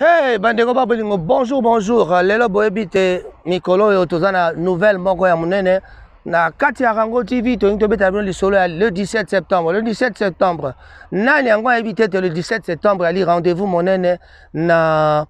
Hey, bandeko ba bolingo bonjour bonjour lelo boyebi te mikolo oyo toza na nouvelle moko ya monene na kati ya rango tv tolingi tobetela bino lisolo ya le 17 septembre le 17 septembre nani yango ayebi te te le 17 septembre ali rendez-vous monene na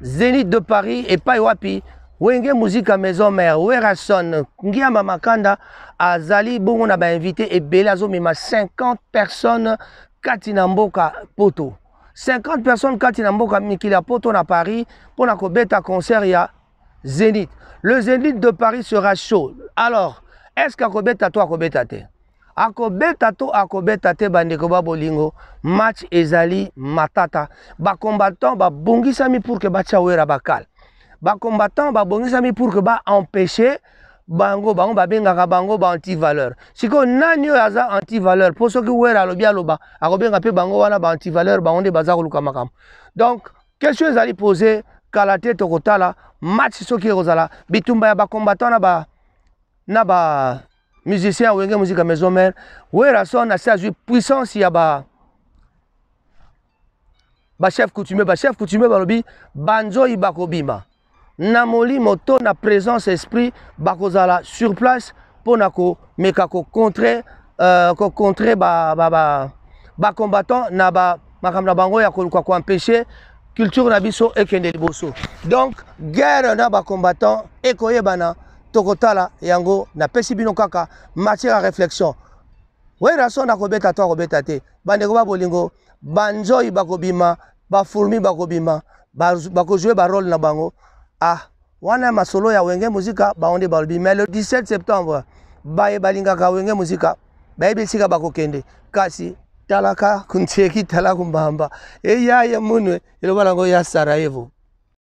zenith de paris epai wapi wenge muzika maison mère werason ngiama makanda azali bongo na bainvité ebele azomema 50 personnes kati na mboka poto 50 personnes kati na mboka mikili ya poto na paris mpo na kobeta concert ya Zenith. Le Zenith de Paris sera chaud. Alors, est-ce qu'akobeta to akobeta te? akobeta to akobeta te bandeko ba bolingo match ezali matata bacombattant babongisami pour ke batya wera bakal bacombattant babongisami pour ke baempêche bango bango babengaka bango ba antivaleur sikoyo nani oyo aza antivaleur mpo soki wera alobi aloba akobenga mpe bango wana ba antivaleur bango nde baza koluka makambo donc question ezali pose kala te tokotala match soki ekozala bitumba ya bacombattant na ba na ba musicien ya wenge musika maison mare werason asi azwi puissance ya ba bachef coutumier bachef coutumier balobi banzoi bakobima na molimo to na présence esprit bakozala sur place mpo na komeka kocontre euh, kocontre bacombattant ba, ba, ba na ba, makambo na bango ya koluka koempeshe culture na biso ekende liboso donc guerre na bacombattant ekoyebana tokotala yango napesi bino kaka matière ya réflexion werason akobeta to akobeta te bandeko ba bolingo banzoi bakobima ba fourmi bakobima bakojoue ba role na bango ah wana ya masolo ya wenge muzika bango nde balobi mais le 17 septembre baye balingaka wenge muzika bayebi esika bakokende kasi talaka kuntieki talaku mbamba eyaye munwe eloba nango ya sarajevo